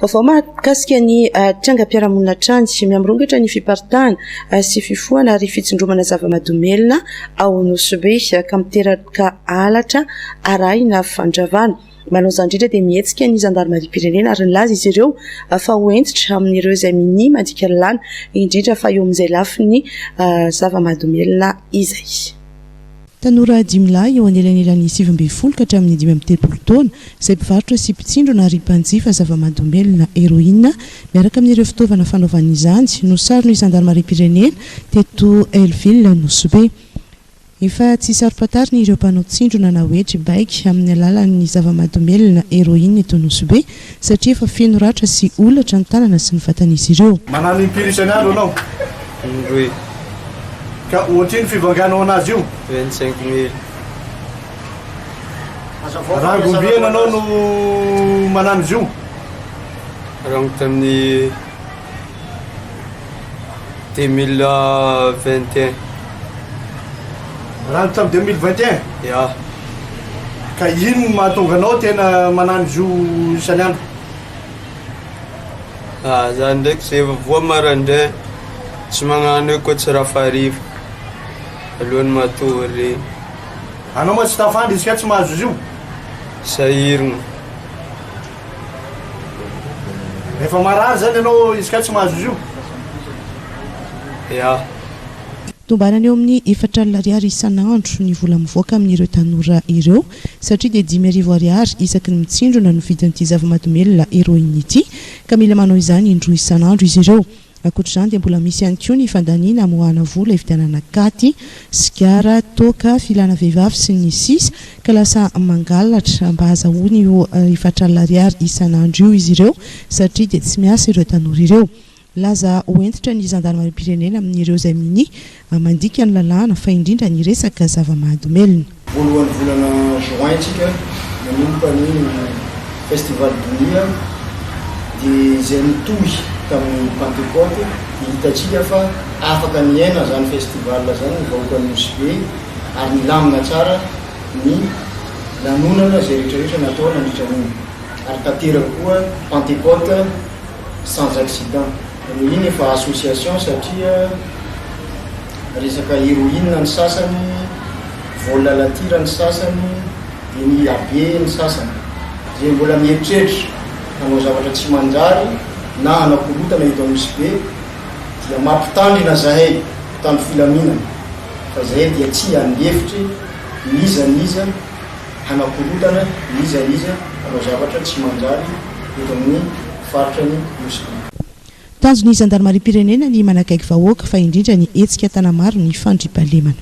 Vaovao mahakasika ny trangam-piarahamonina hatrany, miha-mirongatra ny fiparitahana sy fifohana ary fitsindromana zava-mahadomelina ao Nosy Be ka miteraka halatra arahina fandravana. Malaoza indrindra dia mihetsika ny zandarimariam-pirenena ary nilaza izy ireo fa ho hentitra amin'ireo izay minia mandika lalàna, indrindra fa eo amin'izay lafiny zava-mahadomelina izay. Tanora dimy lahy eo anelanelan'ny sivy ambin'ny folo ka hatramin'ny dimy amby telopolo taona, izay mpivarotra sy mpitsindrona ary mpanjifa zava-mahadomelina heroine, miaraka amin'ireo fitaovana fanaovana izany, no saron'ny zandarimariam-pirenena teto Hell-Ville Nosy-Be. Efa tsy saro-pantarina ireo mpanao tsindrona na hoe tribaiko amin'ny alalan'ny zava-mahadomelina heroine eto Nosy-Be. satria efa feno ratra sy holatra ny tanana sy ny vatan'izy ireo. Manana impiry isan'andro anao? Indroy. Ka ohatrino fivanganao anazy io? Vingt cinq mille. Rangom-biana anao no manano izy io? Rango tamin'ny. Deux mille vingt et un. Raha ny tamin'ny deux mille vingt et un? Ya. Ka ino no mahatonga anao tena manano izy io isan'ny andro? Ah, za ndraiky zay vao voa maraindray, tsy magnano hoe koa tsy raha fariva alohan'ny matory. Anao ma tsy tafandry izy ka tsy mahazo izy io? Sahirana. Rehefa marary izany ianao izy kay tsy mahazo izy io? Eah. Tombanana eo amin'ny efatra alina ariary isan'andro ny vola mivoaka amin'ireo tanora ireo satria dia dimy arivo ariary isaky ny mitsindrona no vidin'ity zava-mahadomelina heroine ity ka mila manao izany indroa isan'andro izy ireo. Ankoatra izany dia mbola misy ihany koa ny fandaniana hamoahana vola, hividianana katy, sigara, toaka, filana vehivavy sy ny sisa ka lasa mangalatra mba hazahoany io efatralina ariary isan'andro io izy ireo satria dia tsy miasa ireo tanora ireo. Laza ho hentitra ny zandarimariam-pirenena amin'ireo izay minia a Mandika ny lalàna fa indrindra ny resaka zava-mahadomelina. Voalohan'ny volana juin tsika manomboka ny Festival Donia dia izay nitohy tamin'ny Pantekoty dia hitantsika fa afaka niaina izany festival izany ny vahoakan'i Nosy Be ary nilamina tsara ny lanonana izay rehetra rehetra natao nandritra an'iny ary tanteraka koa Pantekoty sans accident. Reo iny efa association satria resaka heroine ny sasany, vol à la tire ny sasany, dia ny abe ny sasany. Izay mbola mieritreritra hanao zavatra tsy manjary na hanao korotana eto Anosibe dia mampitandrina zahay mpitandro filaminana fa zahay dia tsy handefitry n'iza n'iza, hanakorontana n'iza n'iza hanao zavatra tsy manjary eto amin'ny faritra ny Nosy. Tanjon'ny zandarimariam-pirenena ny manakaiky vahoaka fa indrindra ny hetsika Tanamaro ny fandriampahalemana.